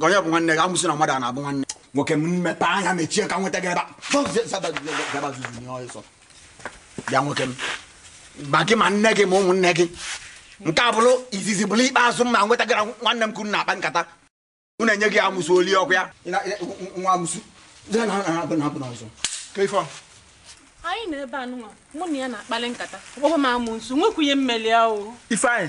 onye bụ nwanne gị amusu na mmadụ a na-abụ nwanne nwoke m m mepe anya mechie ka m nweta gị ebe bịa nwoke m ma gị ma nne gị ma ụmụnne gị nke a bụrụ izizi bụrụ ikpeazụ m ma nweta gị na nwanne m kwụrụ na-akpa nkata m na-enye gị amusu oli ọkụ ya nwa amusu anyị nọ ebe anụnwa mụ na ya na-akpali nkata ọ kpọkwa m amusu nwekwunye mmeli ahụ ifeanyị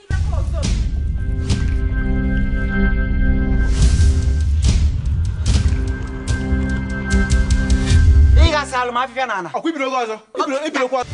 afịfịa n'ana ọkwa ibiri oge ọzọ ibiri okwu ọzọ